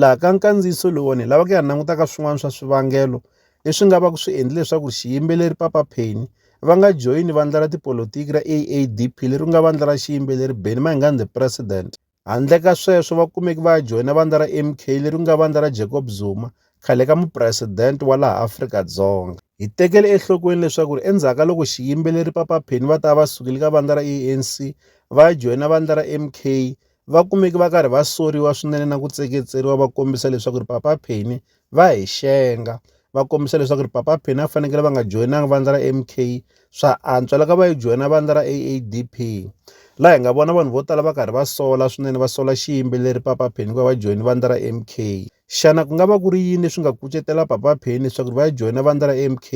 Laha ka nkandziyiso lowuwani hi lava ku ya languta ka swin'wana swa swivangelo leswi nga va ku swi endle leswaku xiyimbeleri Papa Penny va nga joyini vandla ra tipolotiki ra AADP leri nga vandla ra xiyimbeleri Benny Mayengani the President. Handle ka sweswo va kumeki va ya joyina vandla ra MK leri nga vandla ra Jacob Zuma, khale ka mupresidente wa laha Afrika-Dzonga. Hi tekele enhlokweni leswaku ri endzhaku ka loko xiyimbeleri Papa Penny va ta va va sukile ka vandla ra ANC va ya joyina vandla ra MK, va kumeke va karhi va soriwa swinene na ku tseketseriwa va kombisa leswaku ri papa Penny va hi xenga va kombisa leswaku ri papa Penny a fanekele va nga joyinanga vandla ra MK swa antswa loko va yi joyina vandla ra AADP laha hi nga vona vanhu vo tala va karhi va sola swinene va sola xiyimbeleri papa Penny ku va va joyina vandla ra MK xana ku nga va ku ri yini leswi nga kucetela papa Penny leswaku va ya joyina vandla ra MK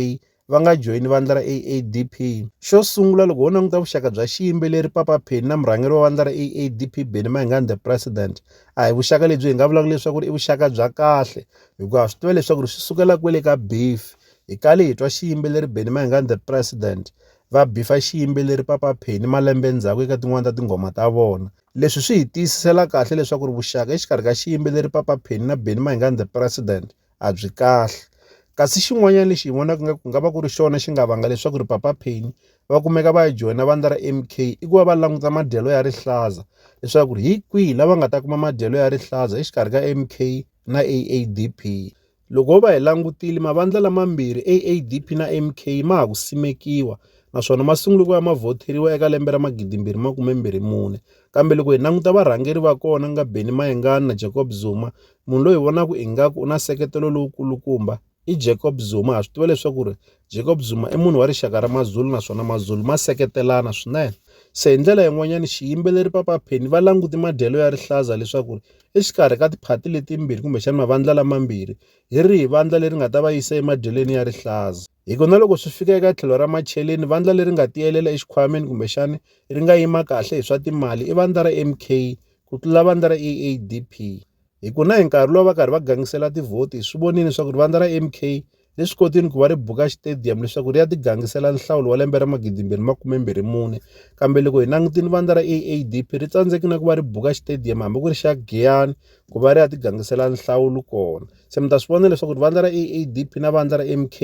va nga joyini vandla ra AADP. Xo sungula loko ho languta vuxaka bya xiyimbeleri Papa Penny na murhangeri wa vandla ra AADP Benny Mayengani the President, a hi vuxaka lebyi hi nga vulaka leswaku i vuxaka bya kahle hikuva swi tiva leswaku ri swi sukela kwele ka beef. Hi kale hi twa xiyimbeleri Benny Mayengani the President va bifa xiyimbeleri Papa Penny malembe ndzhaku eka tin'wani ta tinghoma ta vona. Leswi swi hi tiyisisela kahle leswaku ri vuxaka exikarhi ka xiyimbeleri Papa Penny na Benny Mayengani the President a byi kahle kasi xin'wanyana lexi hi vonaka nga ku nga va ku ri xona xi nga vanga leswaku ri papa Penny va kumeka va ya joyina vandla ra M_K i ku va va languta madyelo ya rihlaza leswaku ri hi kwihi lava nga ta kuma madyelo ya rihlaza exikarhi ka M_K na A_A_D_P loko ho va hi langutile mavandla lamambirhi A_A_D_P na M_K ma ha ku simekiwa naswona ma sungule ku va ma vhoteriwa eka lembe ra magidimbirhi makumembirhi mune kambe loko hi languta varhangeri va kona ku nga Benny Mayengani na Jacob Zuma munhu loyi hi vonaka ingaku u na nseketelo lowu kulukumba i Jacob Zuma ha swi tiva leswaku ri Jacob Zuma i munhu wa rixaka ra Mazulu naswona Mazulu ma seketelana swinene se hi ndlela yin'wanyana xiyimbeleri Papa Penny va languti madyelo ya rihlaza leswaku ri exikarhi ka tiphati letimbirhi kumbexana mavandla lamambirhi hi rihi vandla leri nga ta va yisa emadyelweni ya rihlaza hi ku na loko swi fika eka tlhelo ra macheleni vandla leri nga tiyelela exikhwameni kumbexana ri nga yima kahle hi swa timali i vandla ra M_K ku tlula vandla ra AADP hi ku na hi nkarhi lowu va karhi va gangisela tivhoti hi swi vonile leswaku vandla ra MK le swi kotile ku va ri buka xitediyamu leswaku ri ya tigangisela nhlawulo wa lembe ra magidimbirhi makumembirhi mune kambe loko hi langutile vandla ra AADP ri tsandzeki na ku va ri buka xitediyamu hambi ku ri xa Giyani ku va ri ya tigangisela nhlawulo kona se mi ta swi vona leswaku vandla ra AADP na vandla ra MK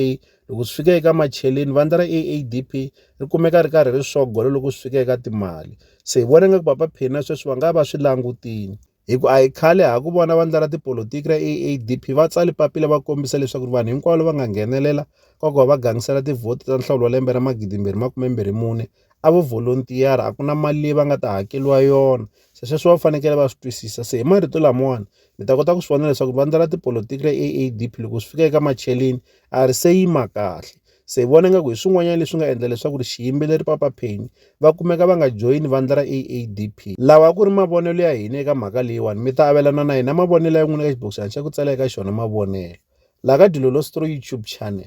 Loko swi fika eka macheleni vandla ra AADP ri kumeka ri karhi ri sogolo loko swi fika eka timali. Se hi vona ingaku Papa Penny na sweswi va nga va swi langutile. Hi ku a hi khale ha ku vona vandla ra tipolotiki ra AADP va tsale papila va kombisa leswaku ri vanhu hinkwavo lava nga nghenelela ka ku va va gangisela tivhoti ta nhlawulo wa lembe ra 2024 a vo volunteer a ku na mali leyi va nga ta hakeriwa yona se sweswo va fanekele va swi twisisa se hi marito lamawani mi ta kota ku swi vona leswaku vandla ra tipolotiki ra A_A_D_P loko swi fika eka macheleni a ri se yima kahle se hi vona ingaku hi swin'wanyana leswi nga endla leswaku ri xiyimbeleri Papa Penny va kumeka va nga joyini vandla ra A_A_D_P lawa a ku ri mavonelo ya hina eka mhaka leyiwani mi ta avelana na hina mavonelo ya n'wina eka xibokisana xa ku tsala eka xona mavonelo laha ka Dilolo's Story YouTube channel.